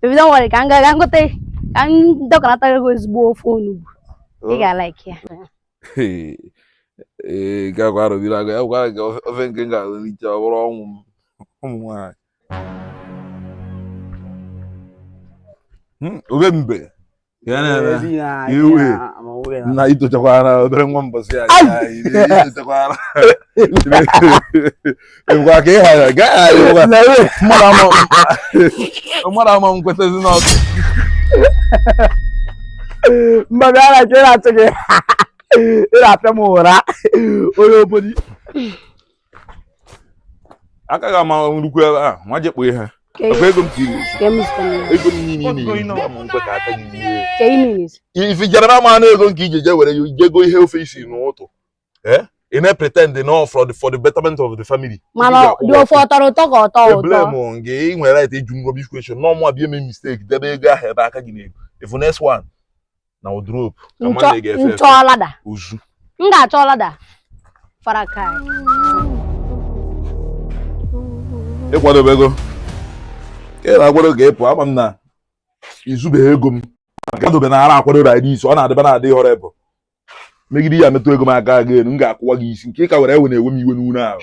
baby don't worry ka m gaa gote ka m dọkanatara gị ezigbo ofe onugbu ị oh. ga-alaiki ya ee gagwa arụbiri agụ ya gwara gị ofe nke m ga-elicha ọ bụrụ ọnwụ m ụmụ nwaanyị hmm, obe mbe na itochakwara obere nwa mbọsị ya itochakwara ebukwa ka ịghara gaghị mmadụ ama m kwetazi n'ọkụ mmadụ ara ka na-achụ gị ị na-apịa m ụra onye obodo aka ga ama nnukwu ebe a nwa jekpo ihe ọkwa ego m tiri ego m niile niile ya m nkwe ka aka gị rie ife i jere na ama ego nke ije je were ya je goo ihe ofe i si n'ụtụtụ eh? ị na-pretend na ọ for the for the betterment of the family. mana dị ofe ọ tọrọ ụtọ ka ọ tọọ ụtọ. eblame gị ị nwere right ịjụ m rubbish question na ọ mụ abịa mee mistake debe ego ahụ ebe aka gị na-eru if next one na wardrobe ka mmadụ na-ege efe efe m chọọ ladder uzu m ga-achọ ladder farakai ị kwadobego ka ị na-akwado ka ịpụ ama m na izubeghị ego m kwadobe na ara akwado ride isi ọ na-adịba na-adị họrọ ebe megide ya metụ ego m aka again m ga-akụwa gị isi nke ị ka were ewe na-ewe m iwe n'ụlọ ahụ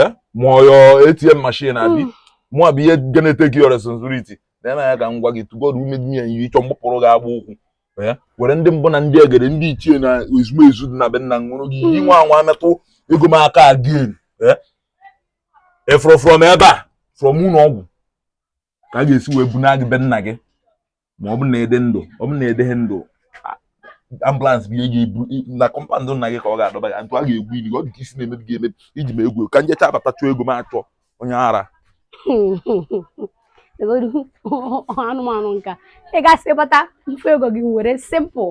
eh? ma ọ your ATM machine abi hmm. mụ abụ ihe ga na-etake your responsibility na ya ka m gwa gị to God who made me and you ị chọọ m gbapụrụ gị agba ụkwụ eh? were ndị mbụ na ndị egede ndị ichie na ezumezu dị na be nna m ṅụọrọ gị iyi nwa anwa metụ ego m aka again efụrụ eh? from ebe a from ụlọ ọgwụ ka a ga-esi wee buna gị be nna gị ma ọ bụ na ị dị ndụ ọ bụ na ị dịghị ndụ ambulance bụ ihe ga-ebu na compound nna gị ka ọ ga-adọba gị ntụ a ga-egwu ili ọ dị ka isi na-emebi gị emebi i ji m egwu ka m jechaa bata chọọ ego m achọ onye ara anụmanụ ka ị gasị bata ife ego gị very simple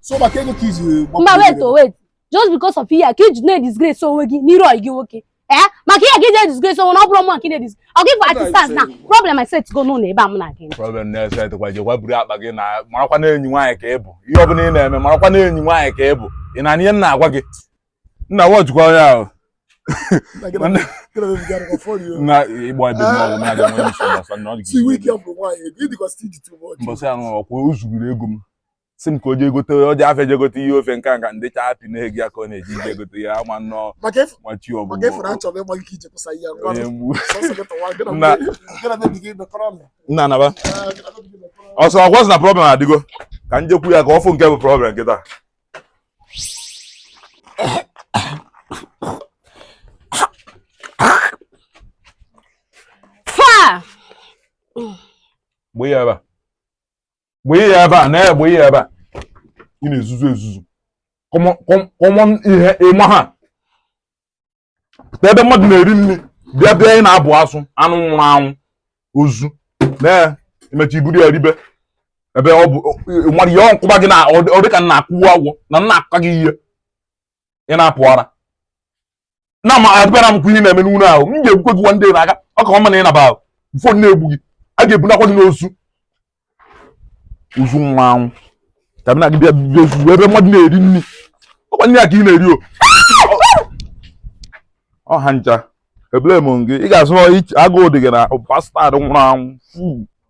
so maka ego ka iji mba wait o oh, wait just because of ihe ka iji na-edisgrace onwe gị n'iru ọyị gị nwoke ee eh? maka ihe ka iji edisgrace onwe na ọ bụrụ mụ nke na-edis ọ gị for artisans na problem esetigo n'ụlọ ebe a mụ na gị problem na-eset kwa jekwa buru akpa gị naa marakwa na enyi nwaanyị ka ị bụ ihe ọ bụla ị na-eme marakwa na enyi nwaanyị ka ị bụ ị na-anụ ihe m na-agwa gị nna watchikwa onye ahụ na ịgba ebe mmanwụ na-aga nwere nsogbu gbasa na ọ dị mbọsị anụ ọkwa o zugoro ego m si m ka o jee gote o jee afịa jegote ihe ofe nke nka ndị chaa apị na-ege ya ka ọ na-eji ije gote ya ama nnọọ machi ọgwụ nna naba ọsọ ọgwọ sị na problem adịgo ka m jekwu ya ka ọ fụ nke bụ problem kịta gbee ya gbee ya ebe a na ya gbee ya ebe a ị na-ezuzu ezuzu come on ihe ịma ha pụta ebe mmadụ na-eri nri bịa bịa ị na-abụ asụ anụ nwụrụ anwụ ozu na emecha i buru ya ribe ebe ọ bụ nwere ihe m kụba gị na ọ dịka m na-akụwa agwọ na m na-akụka gị ihe ị na-apụ ara na ma abịara m kwa ihe na-eme n'ụlọ ahụ m ga-egbukwe gị nwanne na aka ọ ka ọ ma na ị naba ahụ ụfọdụ na-egbu gị a ga-ebunakwa gị n'ozu ozu mmanwụ ka mụ na gị bịa bịa ozu ebe mmadụ na-eri nri ọ kwa nri a ka ị na-eri o ọha ncha ebule m gị ị ga-asụ agụụ dị gị na bastard nwụrụ anwụ fuu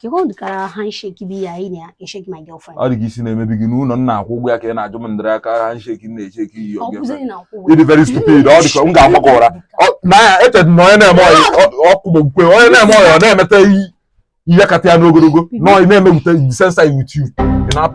Kee ụdịrị aka handshake bụ ihe anyị na-esheki my girlfriend. ọ dị ka isi na-emebi gị n'ụlọ m na-akwụ ụgwọ ya ka ị na-ajụ m ụdịrị aka handshake m na-esheki iyi Ọ oge bụzịghị na nkwụ ị dị very stupid ọ dị ka m ga-agba gị ụra Ọ- na ya echere na onye na-eme ọyị ọkụ bụ nkwe onye na-eme ọyị ọ na-emeta ihe kata ya n'ogologo na ọyị na-emepụta the sensor with you Ị na-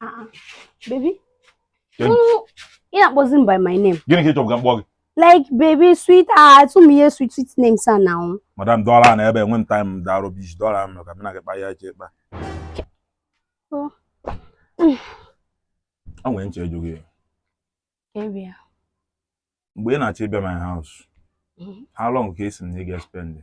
Ah, baby. Then, no, you're not buzzing by my name. Gini kitu kwa mbogi. Like baby sweet ah to me sweet sweet name sana now. Madam dollar na ebe when time da rubbish dollar me ka mina ke pa ya che ba. Oh. I went to you. Area. Mgbe ị na-achọ ịbịa my house, mm-hmm. how long ka esi m na ị ga-spend?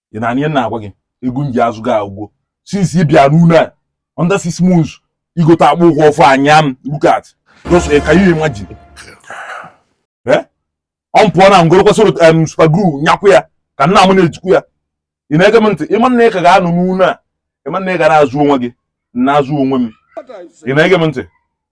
ị nụ ihe m na-agwa gị ego m ji azụ gị agwụgo since ị bịa n'ụlọ a under six months i gote akpụ ụgwọ ọfụ anya m look at just eh, can you imagine eh? ọ pụọ na m gorokwa soro em super glue nyakwu ya ka nna m na-ejikwu ya ị na-ege m ntị ị ma na ị ka ga-anọ n'ụlọ a ị ma na ị ga na-azụ onwe gị na-azụ onwe m ị na-ege m ntị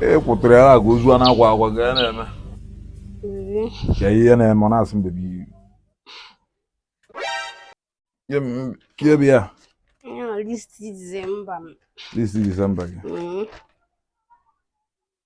e kwụtụrụ ya agwa ozu a na-akwa akwa ga ya na-eme ka ihe na-eme ọ na-asị m baby kiebi ya this December this December gị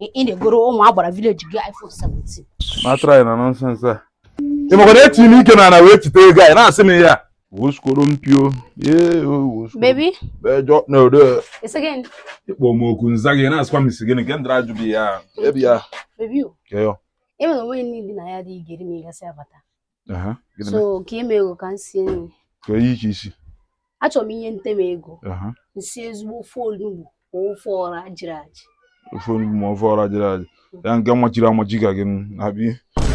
ị na-egoro ụmụ agbara village gị iPhone 17 ma try na nonsense a ị makwa na etinye m ike n'ana wee chite ego a ị na-asị m ya woskoro mpio ee woskoro baby bejọ no do it again ị kpọọ m oku m za gị na-asịkwa m ị sị gịnị nke ndịra ajụ bụ ya ebi ya baby o keyo enwere onwe niile na ya dị ị ga-eri ma ị gasịa bata so ka i nye m ego ka m sie nri kee ihe ị chọ isi achọrọ m i nyetụ m ego m sie ezigbo ofe onugbu ma ofe ọra jiri ajị ofe onugbu ma ofe ọra jiri ajị mm. ya nke machiri amachi ka gị na-abịa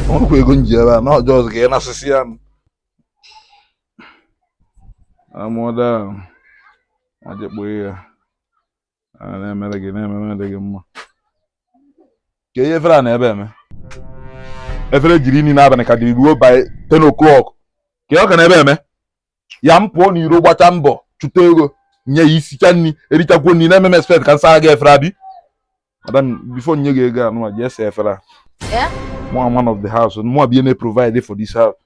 o nwekwa ego m ji ebe a na ọjọọ ọzọ ka ị na-asịsị ya amụọda ajekpụghị ya na-emere gị na-emere gị mma kee ihe efere a nọ ebe a eme efere e ji rie nri n'abalị ka dị ruo by 10 o'clock kee ọ ka nọ ebe a eme ya m pụọ n'iro gbachaa mbọ chụta ego nye gị isichaa nri erichakwa nri na-eme m expect ka m saa gị efere abi madam before nye gị ego anụma ji asa efere a man of the house mụa bụ onye na-provide for this house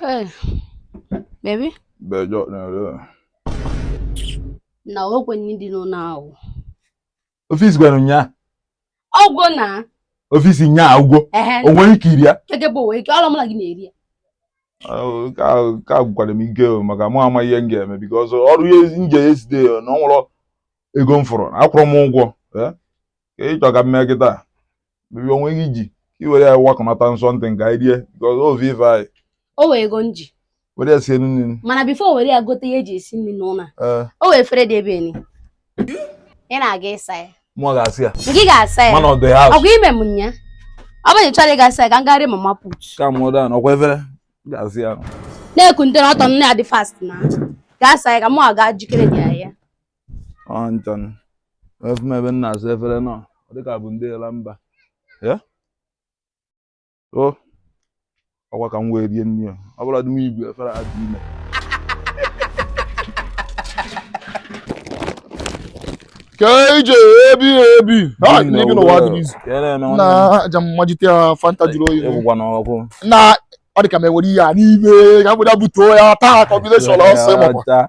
Hey, baby. Bejọ na. Na o nwe nri dị n'ụlọ ahụ. Ofe i sikwara ụnyaa. Ọ gwụna. Ofe e si ụnyaa agwụgo. O nwere ike iri ya. Kee nke bụ o nwe ike, ọ bụrọ mụ na gị na-eri ya. Ka agwụkwara m ike maka mụ ama ihe m ga-eme because ọrụ ya m je yesterday na o nwerọ ego m fụrụ akwụrọ m ụgwọ. kee ị chọ ka m mee kịta baby o nwe ihe ị ji ka i were ya wakọnata something ka anyị rie because ovi ife anyị o nwe ego m ji were ya sie nụ nri mana before i were ya gote ihe eji esi nri n'ụlọ a ee o nwe efere dị ebe ni ị na-aga ịsa ya mụa ga-asa ya nke ị ga-asa ya man of the house ọgwa ime m nya ọ bụrụ na ị chọrọ ịga asa ya ka m gaa rie mama put calm down ọkwa efere ga-asa ya na-ekunte n'ọtọ nne ya dị fast na gaa saa ya ka mụ aga jikere dị ya ya ọnchọn afụ m ebe m na-asa efere nọ ọ dịka bụ ndị ala mba ya o ọkwa ka m wee rie nri a. ọ bụla dị m ibu efere a dị ime keje ebi ebi Ha, Nne n'ibi n'ụwa dị n'izu ka ị na-eme nwanne m. na aja mmajite ya fanta jụrụ oyi Ịgwụkwa n'ọkụ na ọ dị ka m enwere ihe a n'ime ka mgbede butuo ya taa combination ọsọ ịmakwa Ọcha.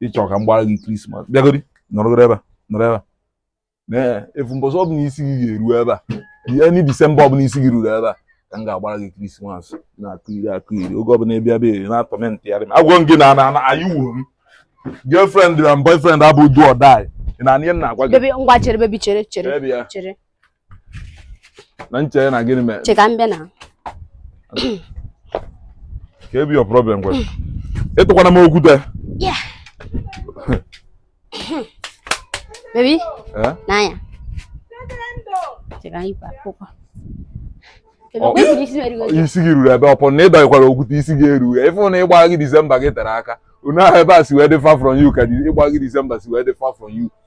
ịchọ ka m gbara gị krismas bịagodi nọrọgoro ebe a nọrọ ebe a n'efu mbọsị ọ bụla isi gị ga-eru ebe a any disemba ọbụla isi gị ruru ebe a ka m ga-agbara gị krismas na-akụ iri akụ iri oge ọbụla ịbịa ebe a na-atormentịgharị m agwa m gị na na na anyị wuo m girlfriend na boyfriend abụ do or die ị na-anụ ihe m na-agwa gị Baby, ngwa chere, baby, chere, chere, Baby, ya. chere. na m chee na gịnị mere chee ka m bịa na kee ihe bụ your problem kwa ịtụkwana m okwute baby eh? n'anya isi gị ruru ebe ọ bụ na ị dọkwara okwute isi gị erughị ịfụ na ịgba gị disemba gị tere aka unu ahụ ebe a si wee dị far from you ka ịgba gị disemba si wee dị far from you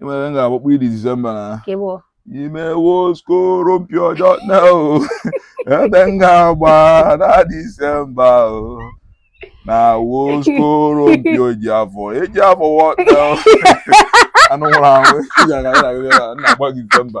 ịmere m ga-agbakpọ iri disemba na imewo skoropio ọjọọ na o ebe m ga-agba na disemba o na wo skoropio ji afọ eji afọ wọta anụ nwụrụ anwụ na-agba disemba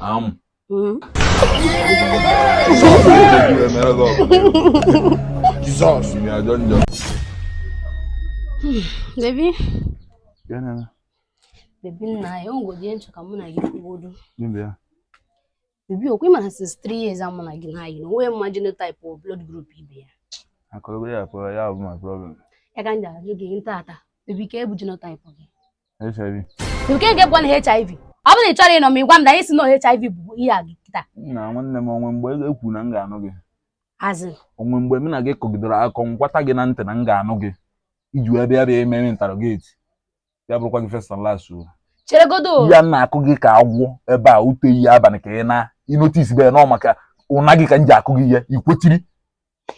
Am. Jesus. Ya dön dön. Baby. Gịnị. Baby nna o nwegodi ihe m chọ ka mụ na gị kwugodu. Gịnị ya? Baby ọkwa ị ma since 3 years a mụ na gị na-ayị. O nwe ma genotype or blood group ibe ya. Akọrọ ya akọrọ ya bụ my problem. Ya ka m ji ajụ gị taata. Baby kee ihe bụ genotype gị. HIV. Kee kwanụ HIV. Ọ bụrụ na ị chọrọ ịnụ m ị gwa m na anyị si na HIV bụ ihe a gị kịta. Na nwanne m o nwe mgbe m kwuru na m ga-anụ gị. As in. O nwe mgbe mụ na gị kọgidere akụkọ m gwata gị na ntị na m ga-anụ gị i ji wee bịa bịa eme interrogate ya bụrụkwa gị first and last o. Cheregodu. Ihe a m na-akụ gị ka agwọ ebe a ụtụtụ ehihie abalị ka ị na ị noticebe na ọ maka ọnụ a gị ka m ji akụ gị ihe ikwetiri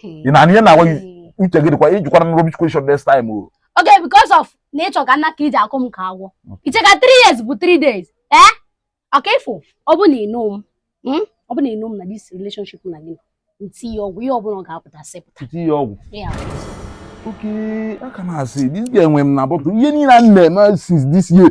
ị na-anụ ihe m na-agwa gị uche gị dịkwa ị jụkwara m rubbish question next time o okay because of na ị chọ ka m naa ka i ji akụ m ka agwọ i che ka 3 years bụ 3 days ee okay ị fụ ọ bụ na ịnụ m hmm? ọ bụ na ịnụ m na this relationship na gị nti ya ọgwụ ihe ọbụla ọ ga-apụta sepụta nti ya ọgwụ oke aka m asị this guy enwe m na bọtụ ihe niile a na-eme since this year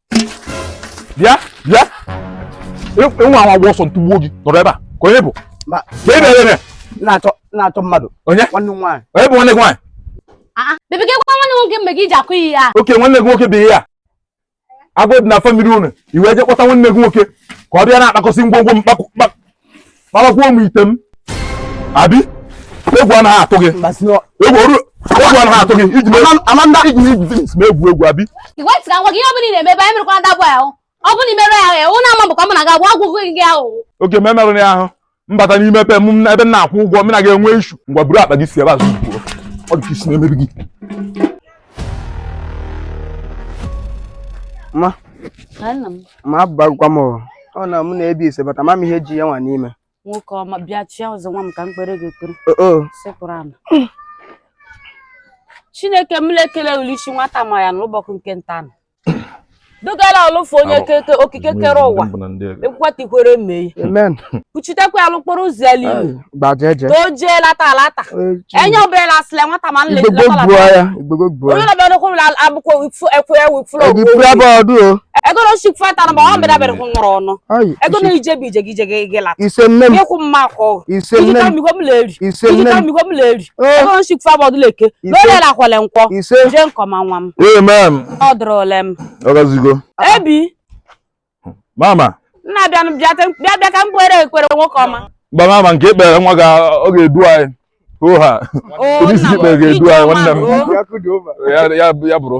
bịa bịa ị nwa anwa gbaa ọsọ m tụgbuo gị nọrọ ebe a ka onye bụ ka ebe ebe na-achọ mmadụ onye nwanne m nwaanyị onye bụ nwanne gị nwaanyị ah, ah. nwanne m nwoke mgbe gị ji akụ ihe a okay nwanne gị nwoke bụ ihe a agụ dị na family unu i wee je kpọta nwanne gị nwoke ka ọ bịa na-akpakọsị ngwongwo m kpakọ kparakwuo m ite m abi egwu anaghị atụ gị egwu oru egwu anaghị atụ gị i ji mee Amanda i ji mee i ji finish m egwu egwu abi ị gee ntị ka m gwa gị ihe ọbụla ị na-eme ebe a ị merụkwa that boy ahụ ọ bụrụ na ị merụ ya ahụ ewu na-ama bụkwa mụ na ga-agwa agwụgwụ gị ahụ okay m emerụrọ ya ahụ m bata n'ime be m ebe m na-akwụ ụgwọ mụ na gị enwe issue ngwa buru akpa gị si ebe a zọpụọ ọ dị ka isi na-emebi gị Mama abụbagwa m ọ na mụ na ebi ise bata ma m ihe ji ya nwa n'ime. Nwoke ọma bịa chịa ọzọ nwa m ka m kpere gị ekpere. Sekpuru ala. Chineke m lekele Oluchi nwata ma ya n'ụbọchị nke ntaa nụ. dugala alụfụ onye okike kere ụwa ekwatikwere amen kpuchitekwa ya l'okporo ụzọ ya n'ihu ka o jee lata alata enye obere na asịla nwata ma nle onye na-abịa n'okwu ụlọ abụkwa ekwe ewu fụlọ ego na osi fata na ma ọ bịara bịara hụ nwụrụ ọnụ ego na ije bụ i je ị lata ịkwụ mma akọ iji ka mmikọ m na-eri iji ka mmikọ m na-eri ego nsikwu fabọdụ leke lole la kwele nkwọ ise je nke ọma nwa m amen ọ dụrụ ole m ọ gazigo ebi mama nna bịa nụ, bịa te- bịa bịa ka m kpere ekpere nwoke ọma mba mama nke i kpere nwa gị a ga-edu anyị oha o Onye isi nna ikpe ga-edu ije anyị, ọma nwanne m. o. Ya kudu over. ya ya ya bụrụ